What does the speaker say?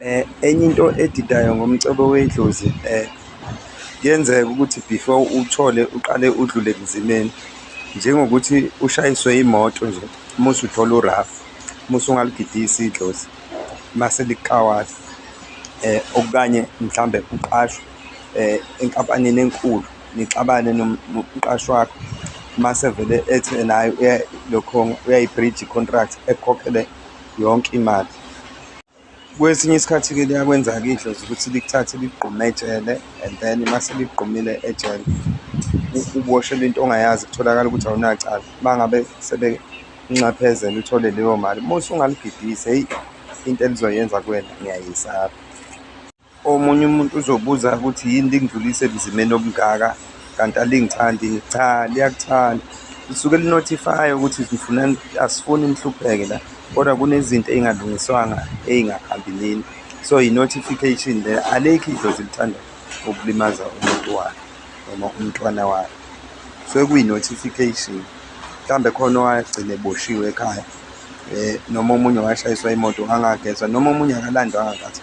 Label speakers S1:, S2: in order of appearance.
S1: Eh, enye into edidayo ngomcebo wedlozi eh, kuyenzeka ukuthi before uthole uqale udlule kunzimeni njengokuthi ushayiswe imoto nje uma usuthola urafu uma usungalugidisi idlozi mase likawala um eh, okukanye mhlawumbe uqashwe um enkampanini enkulu nixabane nomqashi wakho mase vele ethi naye lokho uyayibridge i-contract ekhokhele yonke imali Kwesinye isikhathi-ke liyakwenza-ke idlozi ukuthi likuthathe ligqume ejele and then uma seligqumile ejele uboshelwe into ongayazi kutholakala ukuthi awunacala uma ngabe sebenxephezela uthole leyo mali uma usungaligidisi heyi into elizoyenza kuwena ngiyayisaba Omunye umuntu uzobuza ukuthi yini lingidlulise emzimeni obungaka kanti alingithandi cha liyakuthanda lisuke linothifaya ukuthi ngifuna asifuni nihlupheke la kodwa kunezinto ey'ngalungiswanga ey'ngakhambi nini so yi-notification le alikho idlozi lithanda ukulimaza umuntu wakhe noma umntwana wakhe so kuyi-notification mhlawumbe khona owagcine eboshiwe ekhaya um noma omunye washayiswa imoto angagezwa noma omunye akalandwanga kathi